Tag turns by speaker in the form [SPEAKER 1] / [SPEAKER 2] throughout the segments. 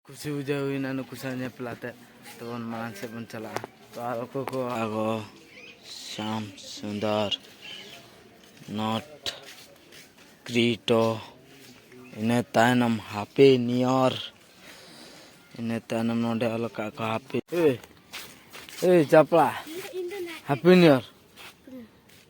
[SPEAKER 1] ᱠᱩᱥᱤ ᱵᱩᱡᱷᱟᱹᱣ ᱦᱩᱭᱱᱟ ᱱᱩᱠᱩ ᱥᱟᱶ ᱧᱮᱯᱮᱞ ᱟᱛᱮᱫ ᱛᱚᱵᱚᱱ ᱢᱟᱲᱟᱝ ᱥᱮᱫ ᱵᱚᱱ ᱪᱟᱞᱟᱜᱼᱟ ᱛᱚ ᱟᱨ ᱚᱠᱚᱭ ᱠᱚ ᱟᱜᱚ ᱥᱟᱢ ᱥᱩᱱᱫᱚᱨ ᱱᱚᱴ ᱠᱨᱤᱴᱚ ᱤᱱᱟᱹ ᱛᱟᱭᱱᱚᱢ ᱦᱟᱯᱮ ᱱᱤᱭᱚᱨ ᱤᱱᱟᱹ ᱛᱟᱭᱱᱚᱢ ᱱᱚᱰᱮ ᱚᱞ ᱠᱟᱜ ᱠᱚ ᱦᱟᱯᱮ ᱮ ᱪᱟᱯᱲᱟ ᱦᱟᱯᱮ ᱱᱤᱭᱚᱨ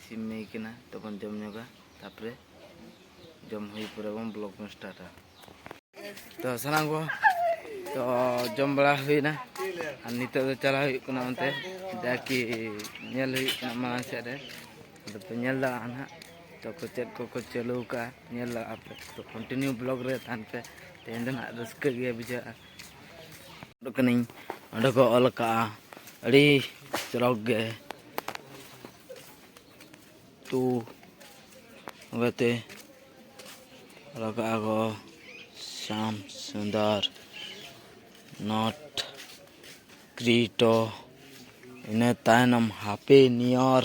[SPEAKER 1] ᱤᱥᱤᱱ ᱦᱩᱭ ᱠᱟᱱᱟ ᱛᱚᱵᱚᱱ ᱡᱚᱢ ᱧᱚᱜᱟ ᱛᱟᱯᱚᱨᱮ ᱡᱚᱢ ᱦᱩᱭ ᱯᱚᱨᱮ ᱵᱚᱱ ᱵᱞᱚᱜ ᱵᱚᱱ ᱥᱴᱟᱨᱴᱟ ᱛᱚ ᱥᱟᱱᱟᱢ ᱠᱚ ᱛᱚ ᱡᱚᱢ ᱵᱟᱲᱟ ᱦᱩᱭᱱᱟ ᱟᱨ ᱱᱤᱛᱚᱜ ᱫᱚ ᱪᱟᱞᱟᱣ ᱦᱩᱭᱩᱜ ᱠᱟᱱᱟ ᱚᱱᱛᱮ ᱡᱟᱠᱤ ᱧᱮᱞ ᱦᱩᱭᱩᱜ ᱠᱟᱱᱟ ᱢᱟᱲᱟᱝ ᱥᱮᱫ ᱨᱮ ᱟᱫᱚ ᱯᱮ ᱧᱮᱞ ᱫᱟᱲᱮᱭᱟᱜᱼᱟ ᱱᱟᱦᱟᱜ ᱛᱚ ᱠᱚ ᱪᱮᱫ ᱠᱚᱠᱚ ᱪᱟᱹᱞᱩ ᱟᱠᱟᱫᱼᱟ ᱧᱮᱞ ᱫᱟᱲᱮᱭᱟᱜᱼᱟ ᱯᱮ ᱛᱚ ᱠᱚᱱᱴᱤᱱᱤᱭᱩ ᱵᱞᱚᱜ ᱨᱮ ᱛᱟᱦᱮᱱ ᱯᱮ ᱛᱮᱦᱮᱧ ᱫᱚ ᱱᱟᱦᱟᱜ ᱨᱟᱹᱥᱠᱟᱹ ᱜᱮ ᱵᱩᱡᱷᱟᱹᱜᱼᱟ ᱚᱰᱚᱠ ᱠᱟᱹᱱᱟᱹᱧ ᱚᱸᱰᱮ ᱠᱚ ᱚᱞ ᱟᱠᱟᱫᱼᱟ ᱟᱹᱰᱤ ᱪᱚᱨᱚᱠ ᱜᱮ ᱛᱩ ᱚᱱᱠᱟᱛᱮ ᱚᱞ ᱟᱠᱟᱫᱼᱟ ᱠᱚ ᱥᱟᱢ ᱥᱩᱱᱫᱚᱨ ᱱᱚᱴ ᱠᱨᱤᱴᱚ ᱤᱱᱟᱹ ᱛᱟᱭᱱᱚᱢ ᱦᱟᱯᱮ ᱱᱤᱭᱚᱨ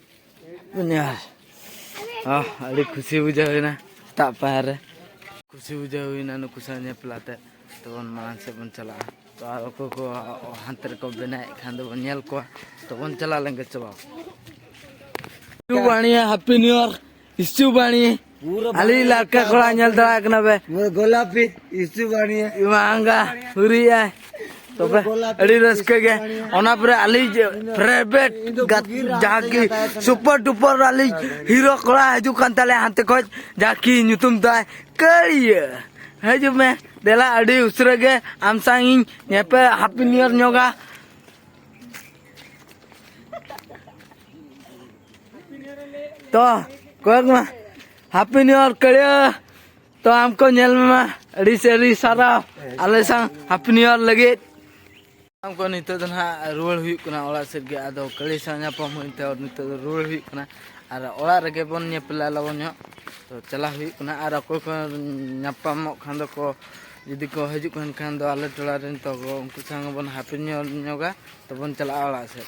[SPEAKER 1] ᱧᱮᱞ ᱟᱹᱰᱤ ᱠᱷᱩᱥᱤ ᱵᱩᱡᱷᱟᱹᱣ ᱦᱩᱭᱱᱟ ᱥᱮᱛᱟᱜ ᱯᱟᱭᱟᱨ ᱨᱮ ᱠᱩᱥᱤ ᱵᱩᱡᱷᱟᱹᱣ ᱦᱩᱭᱱᱟ ᱱᱩᱠᱩ ᱥᱟᱶ ᱧᱮᱯᱮᱞ ᱟᱛᱮ ᱛᱚᱵᱚᱱ ᱢᱟᱲᱟᱝ ᱥᱮᱫ ᱵᱚᱱ ᱪᱟᱞᱟᱜᱼᱟ ᱛᱚ ᱟᱨ ᱚᱠᱚᱭ ᱠᱚ ᱦᱟᱱᱛᱮ ᱨᱮᱠᱚ ᱵᱮᱱᱟᱣᱮᱫ ᱠᱷᱟᱱ ᱫᱚᱵᱚᱱ ᱧᱮᱞ ᱠᱚᱣᱟ ᱛᱚᱵᱚᱱ ᱪᱟᱞᱟᱣ ᱞᱮᱱᱜᱮ ᱪᱟᱵᱟ ᱵᱟᱹᱱᱤᱭᱟ ᱦᱮᱯᱤ ᱱᱤᱭᱩ ᱤᱭᱟᱨ ᱤᱥᱩ ᱵᱟᱹᱱᱤ ᱟᱞᱤ ᱞᱟᱠᱟ ᱠᱚᱲᱟ ᱧᱮᱞ ᱫᱟᱲᱟ ᱠᱟᱱᱟ ᱵᱮ ᱜᱳᱞᱟᱯᱤ ᱤᱥᱩ ᱵᱟᱹᱱᱤ ᱢᱟᱝᱜᱟ ᱦᱩᱨᱤᱭᱟ ᱛᱚᱵᱮ ᱟᱹᱰᱤ ᱨᱟᱹᱥᱠᱟᱹ ᱜᱮ ᱚᱱᱟ ᱯᱚᱨᱮ ᱟᱞᱤ ᱯᱨᱟᱭᱵᱷᱮᱴ ᱡᱟᱦᱟᱸ ᱠᱤ ᱥᱩᱯᱟᱨ ᱰᱩᱯᱟᱨ ᱟᱞᱤ ᱦᱤᱨᱳ ᱠᱚᱲᱟ ᱦᱤᱡᱩᱜ ᱠᱟᱱ ᱛᱟᱞᱮ ᱦᱟᱱᱛᱮ ᱠᱷᱚᱡ ᱡᱟᱦᱟᱸ ᱠᱤ ᱧᱩᱛᱩᱢ ᱛᱟᱭ ᱠᱟᱹᱲᱤᱭᱟᱹ ᱦᱤᱡᱩᱜ ᱢᱮ ᱫᱮᱞᱟ ᱟᱹᱰᱤ ᱩᱥᱟᱹᱨᱟ ᱜᱮ ᱟᱢ ᱥᱟᱶ ᱤᱧ ᱧᱮᱯᱮᱞ ᱦᱟᱯᱤ ᱱᱤᱭᱚᱨ ᱧᱚᱜᱟ ᱛᱚ ᱠᱚᱭᱮᱠ ᱢᱟ ᱦᱟᱯᱤ ᱱᱤᱭᱩ ᱤᱭᱟᱨ ᱠᱟᱲᱤᱭᱟ ᱛᱚ ᱟᱢᱠᱚ ᱧᱮᱞ ᱢᱮ ᱟᱹᱰᱤ ᱥᱮ ᱟᱹᱰᱤ ᱥᱟᱨᱟᱣ ᱟᱞᱮ ᱥᱟᱶ ᱦᱟᱯᱤ ᱱᱤᱭᱩ ᱤᱭᱟᱨ ᱞᱟᱹᱜᱤᱫ ᱟᱢᱠᱚ ᱱᱤᱛᱚᱜ ᱫᱚ ᱱᱟᱦᱟᱜ ᱨᱩᱣᱟᱹᱲ ᱦᱩᱭᱩᱜ ᱠᱟᱱᱟ ᱚᱲᱟᱜ ᱥᱮᱫ ᱜᱮ ᱟᱫᱚ ᱠᱟᱹᱲᱤ ᱥᱟᱶ ᱧᱟᱯᱟᱢ ᱦᱩᱭᱮᱱᱛᱮ ᱱᱤᱛᱚᱜ ᱫᱚ ᱨᱩᱣᱟᱹᱲ ᱦᱩᱭᱩᱜ ᱠᱟᱱᱟ ᱟᱨ ᱚᱲᱟᱜ ᱨᱮᱜᱮ ᱵᱚᱱ ᱧᱮᱯᱮᱞᱟ ᱞᱚᱜᱚᱱ ᱧᱚᱜ ᱛᱚ ᱪᱟᱞᱟᱣ ᱦᱩᱭᱩᱜ ᱠᱟᱱᱟ ᱟᱨ ᱚᱠᱚᱭ ᱠᱚ ᱧᱟᱯᱟᱢᱚᱜ ᱠᱷᱟᱱ ᱫᱚᱠᱚ ᱡᱩᱫᱤ ᱠᱚ ᱦᱤᱡᱩᱜ ᱠᱟᱱ ᱠᱷᱟᱱ ᱫᱚ ᱟᱞᱮ ᱴᱚᱞᱟ ᱨᱮᱱ ᱛᱚ ᱩᱱᱠᱩ ᱥᱟᱶ ᱵᱚᱱ ᱦᱟᱯᱤ ᱱᱤᱭᱩ ᱤᱭᱟᱨ ᱧᱚᱜᱟ ᱛᱚᱵᱚᱱ ᱪᱟᱞᱟᱜᱼᱟ ᱚᱲᱟᱜ ᱥᱮᱫ